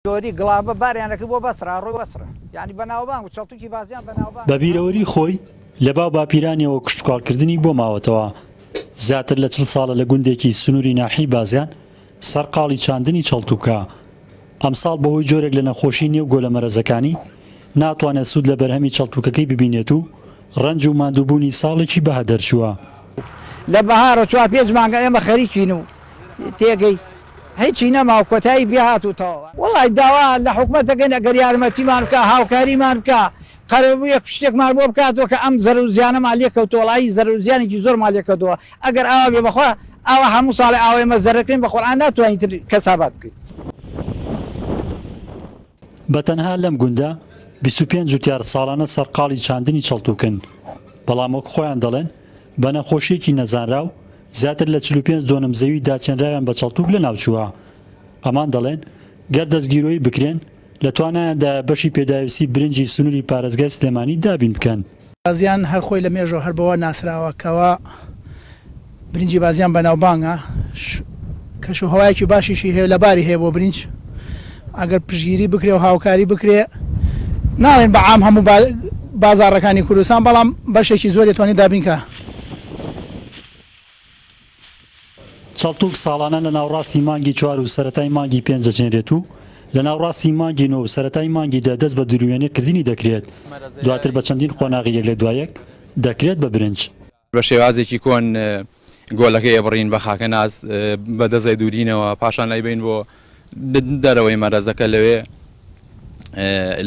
دۆری گڵابە باریان ئەکرد بۆ بەسرا ڕووی وەسرە یانی بەناوبانگ بوو چەڵتوکی بازیان بەناوبانگ بە بیرەوەری خۆی لە باو باپیرانیەوە کوشتوکاڵ کردنی بۆ ماوەتەوە زیاتر لە چل ساڵە لە گوندێکی سنوری ناحیەی بازیان سەرقاڵی چاندنی چەڵتوکە ئەمساڵ بەهۆی جۆرێک لە نەخۆشی نێو گۆلە مەرەزەکانی ناتوانێت سود لە بەرهەمی چەڵتوکەکەی ببینێت و ڕەنج و ماندووبوونی ساڵێکی بەها دەرچووە. لە بەهارە چوار پێنج مانگە ئێمە خەریکین و تێگەی هیچی نەما و کۆتایی پێ هات و تەواو. وەڵای داوا لە حکومەت دەکەین ئەگەر یارمەتیمان بکا هاوکاریمان بکا قەرەبوویەک شتێکمان بۆ بکاتەوە کە ئەم زەرەر و زیانەمان لێ کەوتووە وەڵایی زەرەر و زیانێکی زۆرمان لێ کەوتووە ئەگەر ئاوا بێ بەخوا ئاوا هەموو ساڵێ ئاوا ئێمە زەرەر کەین بە قورعان ناتوانین تر کەسابات بکەین. بە تەنها لەم گوندە بیست و پێنج جوتیار ساڵانە سەرقاڵی چاندنی چڵتوکن، بەڵام وەک خۆیان دەڵێن بە نەخۆشییەکی نەزانراو زیاتر لە چل و پێنج دۆنم زەوی داچێنراویان بە چڵتوک لەناوچووە. ئەمان دەڵێن گەر دەستگیرۆیی بکرێن، لە توانایاندایە بەشی پێداویستی برنجی سنوری پارێزگای سلێمانی دابین بکەن. بازیان هەر خۆی لە مێژەوە هەر بەوە ناسراوە کەوا برنجی بازیان بەناوبانگە کەش و هەوایەکی باشیشی هەیە لە باری هەیە بۆ برنج ئەگەر پشگیری بکرێ و هاوکاری بکرێ ناڵێن بە عام هەموو بازاڕەکانی کوردستان بەڵام بەشێکی زۆری توانی دابینکا. چەڵتوک ساڵانە لە ناوڕاستی مانگی چوار و سەرەتای مانگی پێنج دەچێنرێت و لە ناوڕاستی مانگی نۆ و سەرەتای مانگی دە دەست بە دروێنێ کردنی دەکرێت، دواتر بە چەندین قۆناغی یەک لە دوای یەک دەکرێت بە برنج. بە شێوازێکی کۆن گۆلەکەی ئەبڕین بە خاکەناس بە دەزەی دورینەوە، پاشان ئەیبەین بۆ دەرەوەی مەرەزەکە لەوێ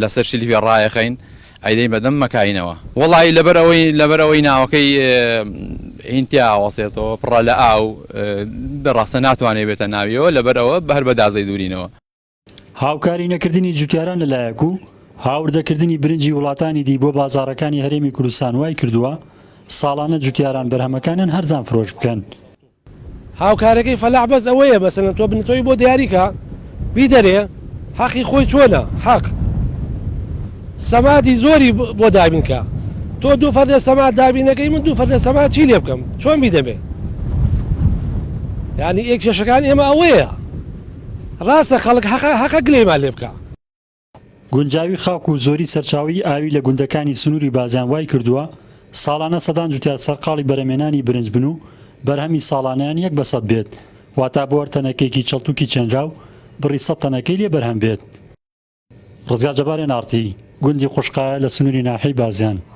لەسەر شیلڤیا ڕایەخەین ئەیدەین بەدەم مەکاینەوە وەڵی لەبەر ئەوەی لەبەر ئەوەی ناوەکەی هینتیا ئاوەسێتەوە پڕە لە ئاو دەڕاستە ناتوانێت بێتە ناویەوە لەبەر ئەوە بەر بە دازەی دوورینەوە. هاوکاری نەکردنی جوتیاران لەلایەک و هاوردەکردنی برنجی وڵاتانی دی بۆ بازاڕەکانی هەرێمی کوردستان وایکردووە ساڵانە جوتیاران بەرهەمەکانیان هەرزان فرۆش بکەن، هاوکارەکەی فەلاح بەس ئەوەیە مەسەلەن تۆ بنتۆی بۆ دیاری کە بیدەرێ حەقی خۆی چۆنە حەق سەمادی زۆری بۆ دابین کە تۆ دوو فەردە سەما دابینەکەی من دوو فەردە سەما چی لێ بکەم چۆن بیدەمێ یعنی ئێ کێشەکان ئێمە ئەوەیە ڕاستە خەڵک حەقە حەقە گلەیمان لێ بکە. گونجاوی خاک و زۆری سەرچاوەی ئاوی لە گوندەکانی سنووری بازیان وای کردووە ساڵانە سەدان جوتیار سەرقاڵی بەرەمێنانی برنج بن و بەرهەمی ساڵانەیان یەک بە سەد بێت واتا بۆ هەر تەنەکەیەکی چەڵتوکی چێنراو بڕی سەد تەنەکەی لێ بەرهەم بێت. ڕزگار جەبار ئێن ئاڕ تی، گوندی قوشقایە لە سنووری ناحیەی بازیان.